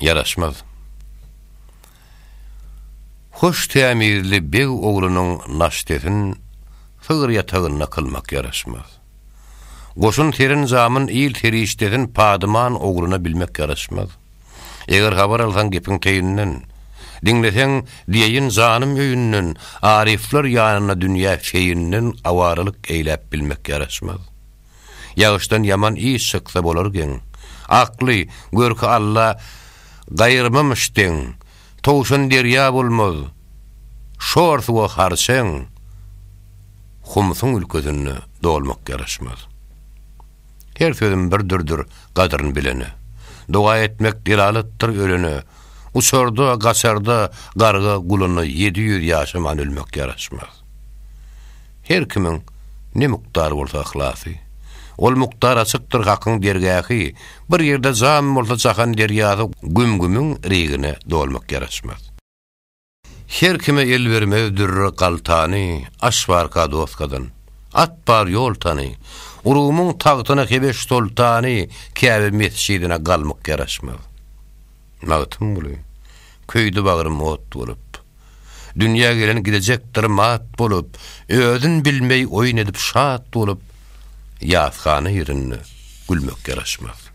Ýaraşmaz. Hoş tämizli beg oglunyň naştesin sygyr ýatagynda kylmak ýaraşmaz. Goşun serin-jamin il serişdesin padyman ogluna bilmek ýaraşmaz. Eger habar alsaň gepiň teýinden, diňleseň diýeýin janym öýünden, aryflar ýanynda dünýä feýinden awaralyk eýläp bilmek ýaraşmaz. Ýagyşdan ýaman iş çyksa bolar geň. Akly, görki Alla gaýyrmamyş deň. Towşan derýa bolmaz, şor suwa harçeň. Humsuň ülkesinde dolmak ýaraşmaz. Her sözüm bir dürdir gadryn bilene. Doga etmek delalatdyr ölene. Uçarda, gaçarda garga guluna ýedi ýüz ýaşaman ölmek ýaraşmaz. Her kimiň ne mukdar bolsa yhlasy, ol mukdar açykdyr Hakyň dergähi, bir ýerde jan bolsa jahan derýasy güm-gümüň rigine dolmak ýaraşmaz. Her kime el bermez dürre galtany, aş barka doskadan, at bar ýol tany, Rumyň tagtyna Hebeş soltany, Käbe mesjidine galmak ýaraşmaz. Magtymguly, köýdi bagrym ot bolup. Dünýä gelen gidejekdir mat bolup, Özün bilmeý oýun edip şat bolup, Ýathana ýerinde gülmek ýaraşmaz.